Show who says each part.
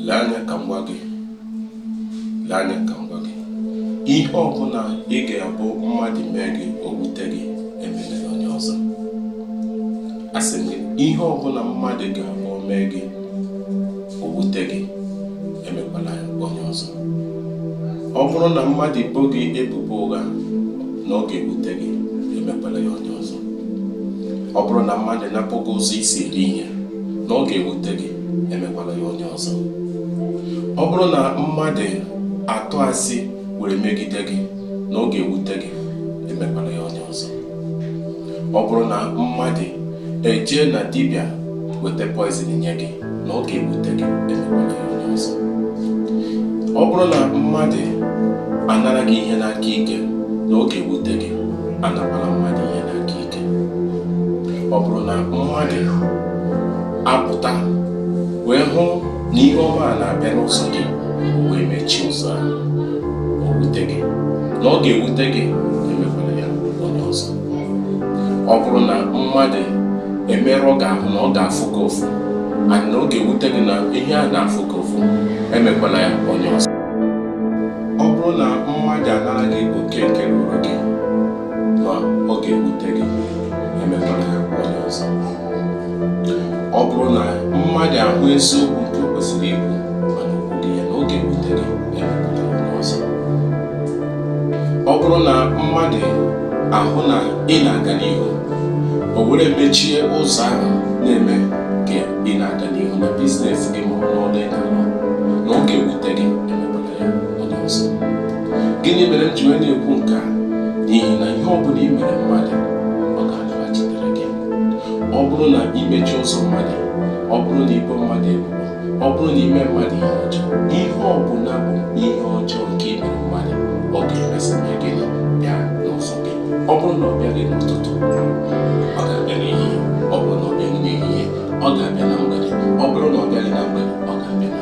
Speaker 1: lee anya ka m gwa gị lee anya ka m gwa gị ihe ọbụla ị ga-abụ mmadụ mee gị o wute gị emela ya onye ọzọ asị m gị ihe ọbụla mmadụ ga-abụ mee gị o wute gị emekwala ya onye ọzọ ọ bụrụ na mmadụ ebo gị ebubo ụgha na ọ ga-ewute gị emekwala ya onye ọzọ ọ bụrụ na mmadụ napụ gị ụzọ i si eri ihe na ọ ga-ewute gị emekwala ya onye ọzọ ọ bụrụ na mmadụ atụ asị were megide gị na ọ ga-ewute gị emekwala ya onye ọzọ ọ bụrụ na mmadụ ejee na dibịa weta poison nye gị na ọ ga-ewute gị emekwala ya onye ọzọ ọ bụrụ na mmadụ anara gị ihe n'aka ike na ọ ga-ewute gị anakwala mmadụ ihe n'aka ike ọ bụrụ na mmadụ apụta wee hụ na ihe ọma a na-abịa n'ụzọ gị wee mechie ụzọ a o wute gị na ọ ga-ewute gị emekwala ya onye ọzọ ọ bụrụ na mmadụ emerụọ gị ahụ na ọ ga-afụ gị ụfụ na ọ ga-ewute gị na ihe a ga-afụ gị ụfụ emekwala ya onye ọzọ ọ bụrụ na mmadụ anara gị oke nke ruru gị na ọ ga-ewute gị emekwala ya onye ọzọ ọ bụrụ na mmadụ ahụ eziokwu nke o kwesịrị ikwu mana o kwughị ya na ọ ga-ewute gị emekwala ya onye ọzọ ọ bụrụ na mmadụ ahụ na ị na-aga n'ihu o were mechie ụzọ ahụ na-eme ka ị na-aga n'ihu na business gị ma ọ n'ọrụ ị na-arụ na ọ ga-ewute gị gịnị mere m ji wee na-ekwu nke a n'ihi na ihe ọ bụla i mere mmadụ ọ ga-alaghachitere gị ọ bụrụ na i mechie ụzọ mmadụ ọ bụrụ na i bo mmadụ ebubo ọ bụrụ na i mee mmadụ ihe ọjọọ ihe ọ bụla bụ ihe ọjọọ nke i mere mmadụ ọ ga-emesị mee gị bịa n'ụzọ gị ọ bụrụ na ọ bịaghị n'ụtụtụ ọ ga-abịa n'ehihie ọ bụrụ na ọ bịaghị n'ehihie ọ ga-abịa na mgbede ọ bụrụ na ọ bịaghị na mgbede